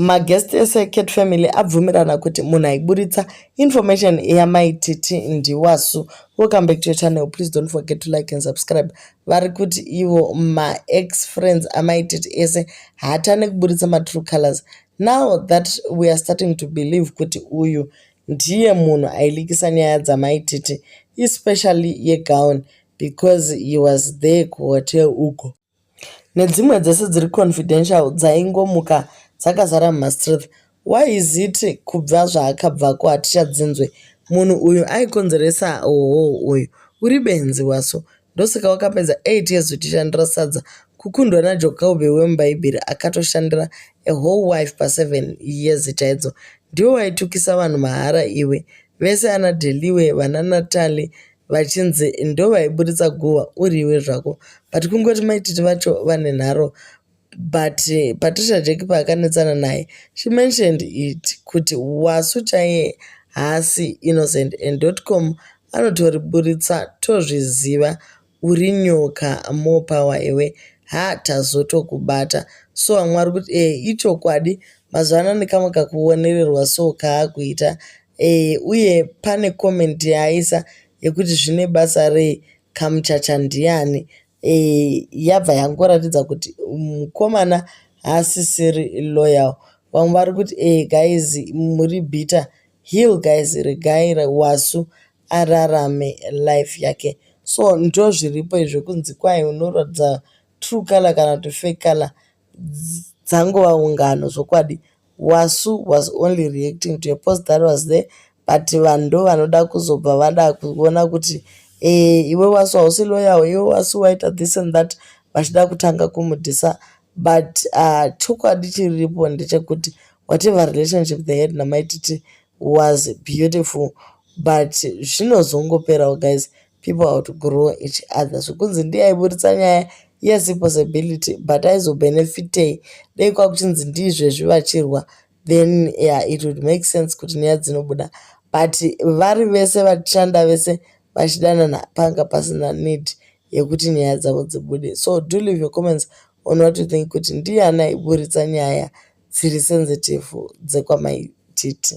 maguest ese ecat family abvumirana kuti munhu aiburitsa information yamai titi ndiwasu welcome back to your channel please don't forget to like and subscribe vari kuti ivo maex friends amai titi ese haatane kuburitsa matrue colors now that we are starting to believe kuti uyu ndiye munhu ailikisa nyaya dzamai titi especially yegown because he was there kuhotel ugo Nedzimwe dzese dziri confidential dzaingomuka dzakazara muma streets. Why is it kubva zvaakabvako hatichadzinzwe. Munhu uyu aikonzeresa hoho uyu. Uri benzi waso. Ndosaka wakapedza 8 years uchishandira sadza. Kukundwa na Jokobe wemubhaibheri akatoshandira a whole wife pa 7 years chaidzo. Ndiwe waitukisa vanhu mahara iwe. Vese ana Deliwe, vana Natalie vachinzi ndovaiburitsa guhwa uriwe zvako but kungoti maititi vacho vane nharo but eh, patricia jeki paakanetsana naye she mentioned it kuti wasu chaiye haasi innocent and dotcom anotoriburitsa tozviziva uri nyoka more power iwe ha tazotokubata so vamwe vari kuti e ichokwadi mazuva ano nekamwe kakuonererwa so kaakuita Ehe uye pane comment yaaisa yekuti zvine basa rei kamuchacha ndiani ehe yabva yangoratidza kuti mukomana haasisiri loyal vamwe vari kuti ehe guys muri bitter heal guys regai wasu ararame life yake so ndozviripo izvo kunzi kwai unoratidza true color kana kuti fake color dzangova ungano zvokwadi Wasu was only reacting to a post that was there but vanhu ndo vanoda kuzobva vada kuona kuti eh, iwe wasu hausi loyawo iwe wasu waita this and that vachida kutanga kumudhisa but uh, chokwadi chiripo ndechekuti whatever relationship they had namaititi was beautiful but zvinozongoperawo guys People outgrow each other. Zvekunzi ndiye aiburitsa nyaya yes ipossibility but aizobenefitei dei kwakuchinzi ndiizvezvi vachirwa then yeah, it would make sense kuti nyaya dzinobuda but vari vese vashanda vese vachidanana panga pasina need yekuti nyaya dzavo dzibude so do leave your comments on what you think kuti ndiye anaiburitsa nyaya dziri sensitive dzekwamai Titi.